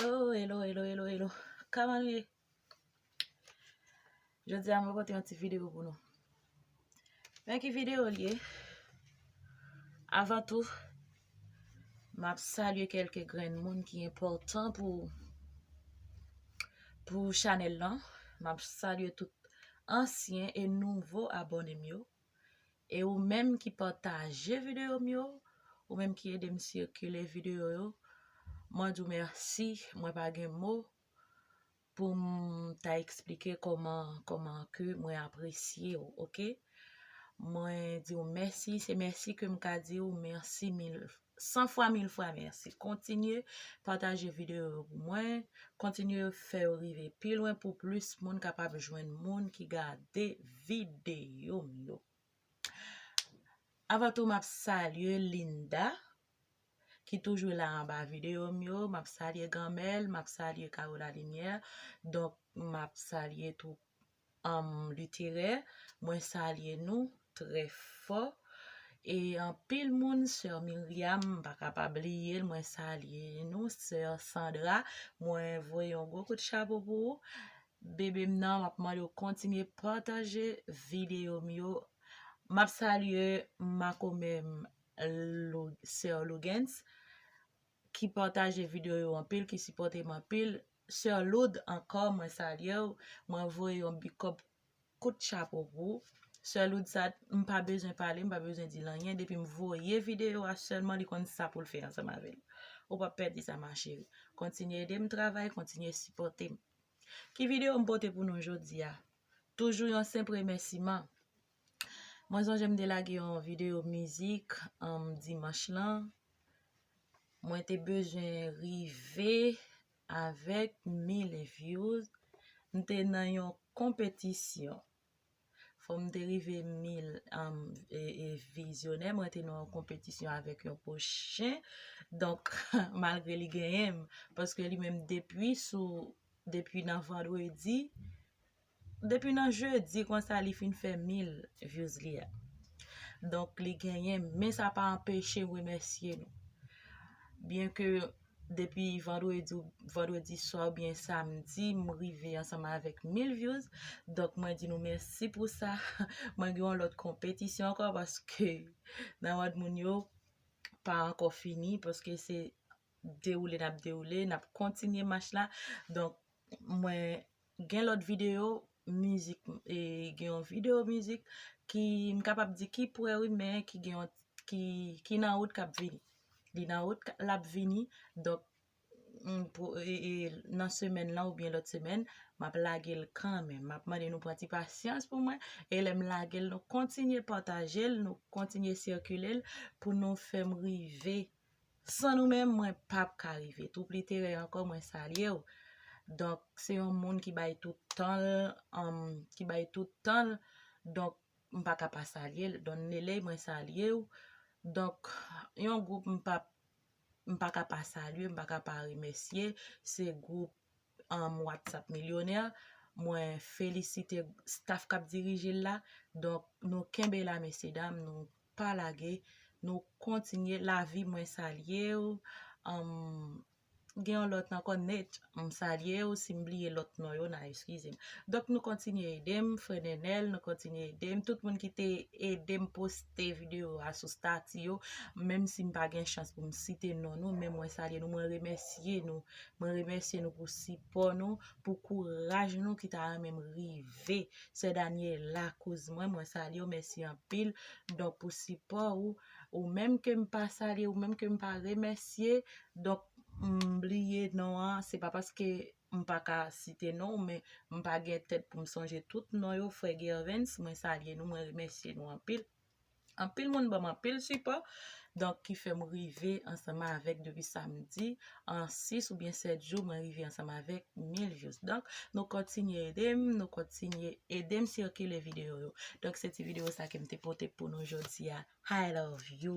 Oh, hello, hello, hello, hello. Kaman nou ye? Jodi a mwen pote yon ti video pou nou. Men ki video li ye? Avan tou, m ap salye kelke grenn moun ki enpòtan pou pou chanèl lan. M ap salye tout ansyen e nouvo abòne m yo. E ou menm ki pataje videyo m yo, ou menm ki ede m sikile videyo yo, mwen di w mèsi, mwen pa gen mo pou m ta eksplike kòman, kòman ke mwen apresye w, ok. Mwen di w mèsi, se mèsi ke m ka di w mèsi mil, 100 fwa 1000 fwa mèsi kontinye pataje videyo yo pou mwen kontinye fè yo rive pi lwen pou plis moun kapab jwenn moun ki gade videyo m yo avan tou m ap salye Linda ki toujou la anba videyo m yo m ap salye Ganmèl m ap salye Kawo Lalimyè donk m ap salye tou um literè mwen salye nou trè fò e anpil moun sè Myriam m pa ka pa bliyel mwen salye nou sè Sandra mwen voye yon gwo kout chapo pou ou bebe m nan map mandew kontinye pataje videyo m yo map salye makomè m sè Lougens ki pataje video yo anpil ki sipotem anpil soeur loud ankò mwen salyew mwen voye yon big kòb kout chapo pou ou soeur loud sa m pa bezwen pale m pa bezwen dil anyen depim voye video a selman li konn sa poul fè ansanm avèl ou pap pèdi sa ma chérie kontinye edem travay kontinye sipotem ki video m pote pou nou jodia toujou yon senp remèsiman. Mwen sonje m te lage yon video mizik dimanch lan. Mwen te bezwen rive avèk 1000 views. M te nan yon konpetisyon. Fò m te rive 1000 vizyonè. Mwen te nan yon konpetisyon avèk yon po chen. Donk, malgre li genyen m. Paske li menm depi sou, depi nan vandredi. Depi nan jeudi konsa li fin fè mil views li a. Donk li genyen men sa pa anpeche m remèsye nou. Byen ke depi vandredi ou vandredi swa ou byen samdi m rive ansanm avèk mil views. Donk mwen di nou mèsi pou sa. Mwen gen yon lòt konpetisyon ankò paske nan mòd moun yo pa ankò fini paske se dewoule n ap dewoule n ap kontinye mach la. Donk mwen Gen lòt video mizik e gen yon video mizik ki m kapab di ki prè wi men ki gen yon ki ki nan wout k ap vini. Li nan wout l ap vini donk m pou e e nan semèn lan oubyen lòt semèn m ap lage l kanmenm. M ap mande nou pran ti pasyans pou mwen e lè m lage l nou kontinye pataje l, nou kontinye sikile l pou nou fè m rive San nou menm mwen pap ka rive. Twoup literè ankò mwen salye w. Donk se yon moun ki bay tout tan l, ki bay tout tan l, donk m pa ka pa salye l. Don Neley mwen salye w. Donk yon gwoup m pap, m pa ka pa salye, m pa ka pa remèsye, se gwoup WhatsApp Millionaire. Mwen felisite staff k ap dirije l la. Donk nou kenbe la mesye dam, nou pa lage nou kontinye lavi mwen salyew gen yon lot anko Nate m salyew sim bliye lot non yo nan eskizem donk nou kontinye edem frè nenel nou kontinye edem tout moun ki te edem poste video a sou stati yo menm sim pa gen chans poum site non nou men mwen salye nou mwen remèsye nou mwen remèsye nou pou sipò nou pou kouraj nou ki ta renmenm rive Sè Daniela kouz mwen mwen salye w mèsi anpil donk pou sipò ou ou menm ke m pa salye ou menm ke m pa remèsye donk m bliye non an se pa paske m pa ka site non w men m pa gen tèt pou m sonje tout non yo frè Gervens mwen salye nou mwen remèsye nou anpil. Anpil moun banm anpil sipò donk ki fèm rive ansanm avèk depi samdi an 6 oubyen 7 jou mwen rive ansanm avèk 1000 views donk nou kontinye edem nou kontinye edem sikile video yo donk se ti video sa kem te pote pou nou jodia I love you.